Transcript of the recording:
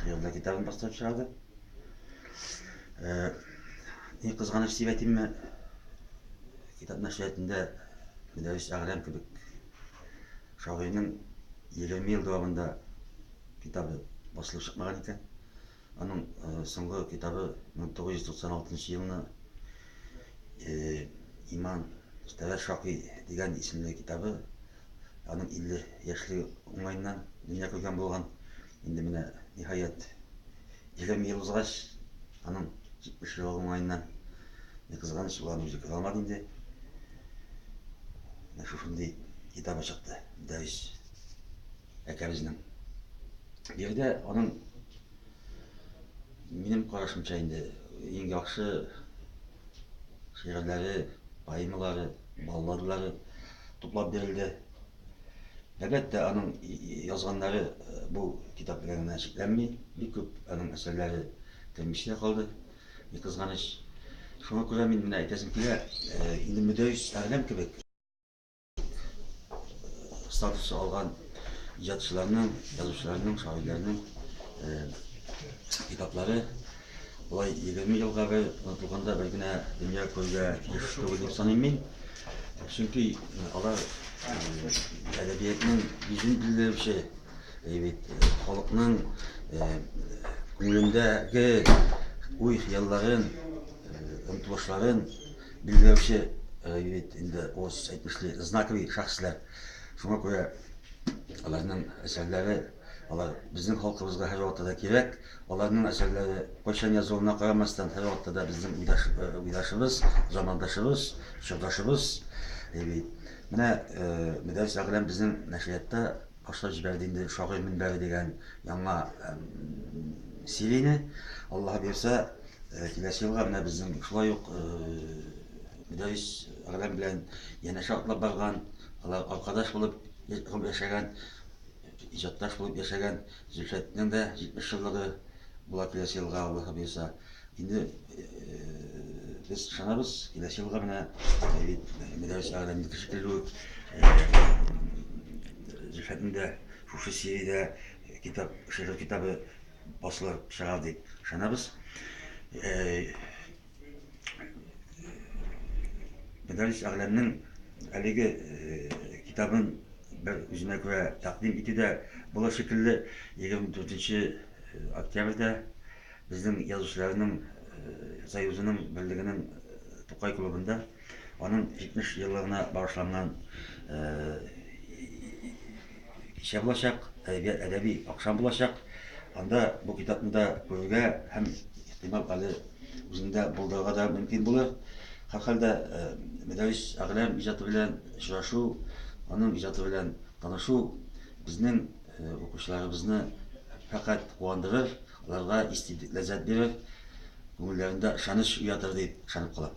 Хыялда китабын бастырып чыгарды. Э, ни кызганыч дип әйтимме, китап нәшриятында Мөдәррис Әгърәм кебек шагыйрьнең 20 ел дәвамында китабы басылып чыкмаган икән. Аның э, соңгы китабы 1996 елны э, Иман Тәвәр Шакый дигән исемле китабы Аның 50 яшьли уңаеннан дөнья күргән булган. Инде менә ниһаять 20 ел узгач, аның 70 елы уңаеннан не кызганыч ул аны үзе күрә алмады инде. Менә шушындый китабы чыкты. Дәрис әкәбезнең. Бу жердә аның минем карашымча инде иң яхшы шигырьләре, поэмалары, балладалары туплап бирелде. Әлбәттә, аның язганнары бу китап белән генә чикләнми. Бик күп аның әсәрләре кермичтә калды, ни кызганыч. Шуңа күрә мин менә әйтәсем килә, инде Мөдәрис Әгъләм кебек статусы алган иҗатчыларның, язучыларның, шагыйрьләрнең китаплары Болай егерме елга бер онытылганда бер генә дөнья күрергә тиеш түгел дип саныйм мин. Чөнки алар әдәбиятның йөзен билгеләүче, бит халыкның күңелендәге уй хыялларын, омтылышларын билгеләүче бит инде ос әйтмешли знаковый шәхесләр. Шуңа күрә аларның әсәрләре Алар безнең халкыбызга һәрвакытта да кирәк. Аларның әсәрләре кайчан язылуына карамастан, һәрвакытта да безнең уйдаш, э, уйдашыбыз, замандашыбыз, чордашыбыз. Әйби. Менә э, Мөдәррис Әгъләм безнең нәшриятта башлап җибәрде инде Шагыйрь мөнбәре дигән яңа эм, серияне. Аллаһ бирсә, э, киләсе елга менә безнең шулай ук э, Мөдәррис Әгъләм белән янәшә атлап барган, алар аркадаш булып я- гомер яшәгән Иҗатташ булып яшәгән Зөлфәтнең дә 70 еллыгы була киләсе елга, Аллаһы боерса. Инде без ышанабыз, киләсе елга менә Мөдәррис Әгъләмнеке шикелле үк Зөлфәтнең дә шушы сериядә китап, шигырь китабы басылыр, чыгар дип ышанабыз. Мәдәрис әгъләмнең әлеге э, китабын бер үзенә күрә тәкъдим итү дә була шикелле. 24 э, октябрьдә безнең язучыларның э, союзының берлегенең Тукай клубында аның 70 еллыгына багышланган Кичә булачак, әдәбият әдәби акшам булачак. Анда бу китапны да күрергә һәм ихтимал әле үзендә булдырырга да мөмкин булыр. Һәрхәлдә э, Мәдәрис Әгълам иҗаты белән очрашу, аның иҗаты белән танышу безнең э, укучыларыбызны фәкать куандырыр, аларга истиблек ләззәт бирер, күңелләрендә ышаныч уятыр дип ышанып калам.